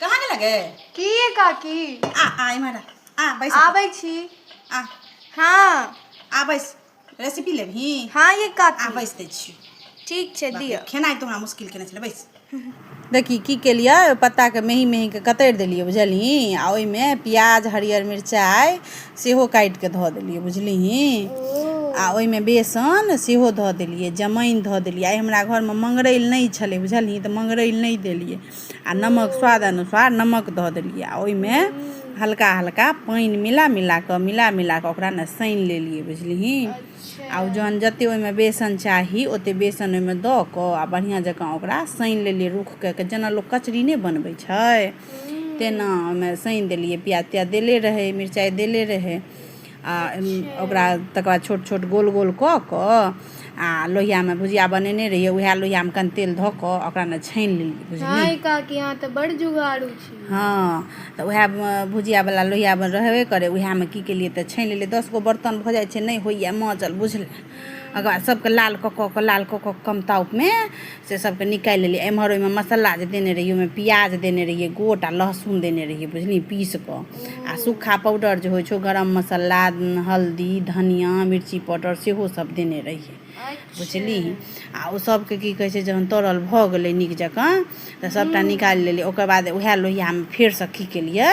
कहाँ गेला गे की ये काकी आ आ इम्हर आ बैस आबै छी आ हाँ आ बैस रेसिपी लेबही हाँ ये आ काकी बैस दै छियौ ठीक छै दिअ खेनाइ तो हमरा मुश्किल केने छलै बैस देखी की केलियै ओहि पत्ताके मेही मेहीके कतरि देलियै बुझलही आ ओहिमे प्याज हरियर मिरचाइ सेहो काटि कऽ धऽ देलियै बुझलिही आ ओहिमे बेसन सेहो धऽ देलियै जमाइन धऽ देलियै आइ हमरा घरमे मङ्गरैल नहि छलै बुझलियै तऽ मङ्गरैल नहि देलियै आ नमक स्वाद अनुसार नमक धऽ देलियै आ ओहिमे हल्का हल्का पानि मिला मिला कऽ मिला मिला कऽ ओकरा ने सानि लेलियै बुझलिही आ ओ जहन जतेक ओहिमे बेसन चाही ओतेक बेसन ओहिमे दऽ कऽ आ बढ़िआँ जकाँ ओकरा सानि लेलियै रूखके जेना लोक कचरी नहि बनबै छै तेना ओहिमे सानि देलियै प्याज त्याज देले रहै मिरचाइ देले रहै आ अच्छा ओकरा तकर बाद छोट छोट गोल गोल कऽ कऽ आ लोहियामे भुजिया बनेने रहियै उएह लोहियामे कनि तेल धऽ कऽ ओकरा ने छानि लेलियै बुझलियै हँ काकी अहाँ तऽ बड़ जुगाड़ू छी हँ तऽ उएह भुजियावला लोहिया रहबे करै उएहमे की केलियै तऽ छानि लेलियै दस गो बर्तन भऽ जाइ छै नहि होइए माँजल बुझल ओकर बाद सभके लाल कऽ कऽ कऽ लाल कऽ कऽ कम ताउपमे से सभके निकालि लेलियै एम्हर ओहिमे मसाला जे देने रहियै ओहिमे प्याज देने रहियै गोट आ लहसुन देने रहियै बुझली पीस कऽ आ सूखा पाउडर जे होइ छौ गरम मसाला हल्दी धनिया मिर्ची पाउडर सेहो सभ देने रहियै बुझली आ ओ सभके की कहै छै जहन तरल भऽ गेलै नीक जकाँ तऽ सभटा निकालि लेलियै ओकर बाद उएह लोहियामे फेरसँ की केलियै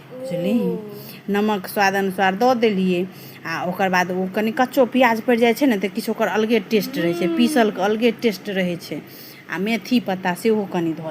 बुझली नमक स्वाद अनुसार दऽ देलियै आ ओकर बाद ओ कनि कच्चो प्याज पड़ि जाइ छै ने तऽ किछु ओकर अलगे टेस्ट रहै छै पीसलके अलगे टेस्ट रहै छै आ मेथी पत्ता सेहो कनि धऽ